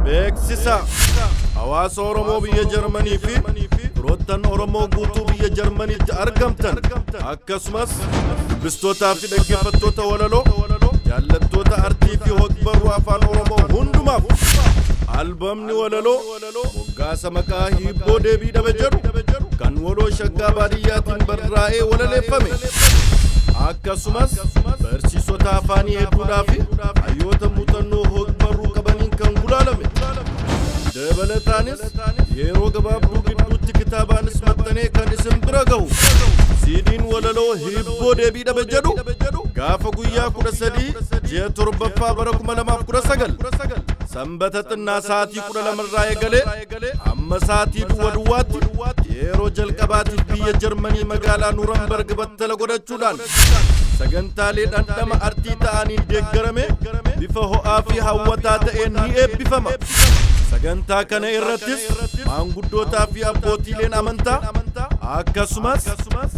Beeksisa! Hawaasa Oromoo biyya Jarmanii fi firoottan Oromoo guutuu biyya Jarmaniitti argamtan akkasumas dubbistootaa fi dhaggeeffattoota walaloo jaallattoota artii fi hogbarruu afaan Oromoo hundumaaf albamni walaloo Moggaasa maqaa hiibboo deebii dhabe jedhu kan waloo shaggaa baadiyyaatiin barraa'ee walaleeffame. Akkasumas barsiisota afaanii hedduudhaa fi hayyoota muuxannoo hogbarruu qabaniin kan gulaalame. Dabalataanis yeroo gabaabduu gidduutti kitaabaanis maxxanee kan isin bira gahu. Siidiin walaloo hiibboo deebii dhabe jedhu gaafa guyyaa 13 ji'a 7ffaa bara 2019 sanbata xinnaa sa'aatii 12 irraa eegalee amma sa'aatii duwwa duwwaatti yeroo jalqabaatiif biyya Jarmanii magaalaa Nuurambarg battala godhachuudhaan sagantaalee dhandhama artii ta'aniin deeggarame bifa ho'aa fi hawwataa ta'een ni eebbifama. Sagantaa kana irrattis maanguddootaa fi abbootiileen amantaa akkasumas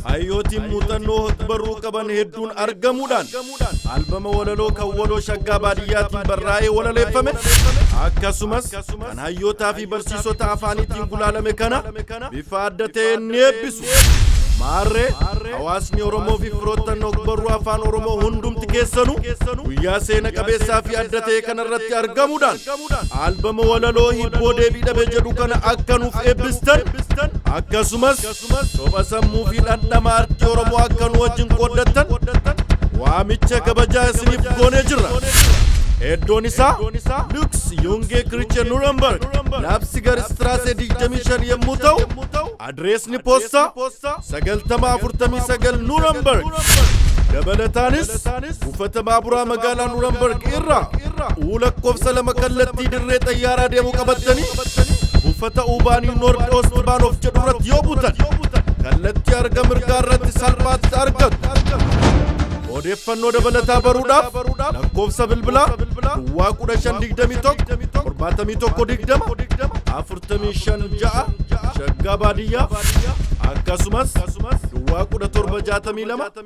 hayyootiin muuxannoo hogbarruu qaban hedduun argamuudhaan jedhamuudhaan albama walaloo kan waloo shaggaa baadiyyaatiin barraa'ee walaleeffame akkasumas kan hayyootaa fi barsiisota afaaniitiin gulaalame kana bifa adda ta'een ni eebbisu. Maarree hawaasni Oromoo fi firoottan ogbarruu afaan Oromoo hundumti keessanu guyyaa seena qabeessaa fi adda ta'e kanarratti argamuudhaan albama walaloo hibboo deebii dhabe jedhu kana akka nuuf eebbistan akkasumas Soba sammuu fi dhandhama artii Oromoo akka nu wajjin qooddattan waamicha kabajaa isiniif goonee jirra. Eddoon isaa Lux Yungee Kiriche Nuremberg labsi gar Istiraasee 25 yommuu ta'u adireesni poostaa 9049 Nuremberg dabalataanis Buufata baaburaa magaalaa Nuurambarg irraa uu lakkoofsa lama kallattii dirree xayyaaraa deemu qabattanii buufata Uubaanii Noord Oost Baanoof jedhu irratti yoo buutan kallattii arga mirgaa irratti salphaatti argattu. Odeeffannoo dabalataa baruudhaaf lakkoofsa bilbilaa duwwaa 1521 7120 456 shaggaa baadiyyaa akkasumas duwwaa 1762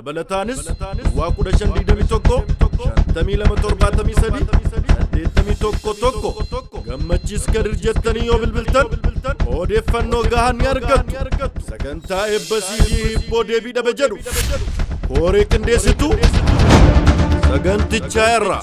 Dabalataanis Duwwaa 1521 5273 81 tokko gammachiis kadir jettanii yoo bilbiltan odeeffannoo gahaa ni argattu. Sagantaa eebba siidii hibboo deebii dhabe jedhu kooree qindeessituu sagantichaa irraa.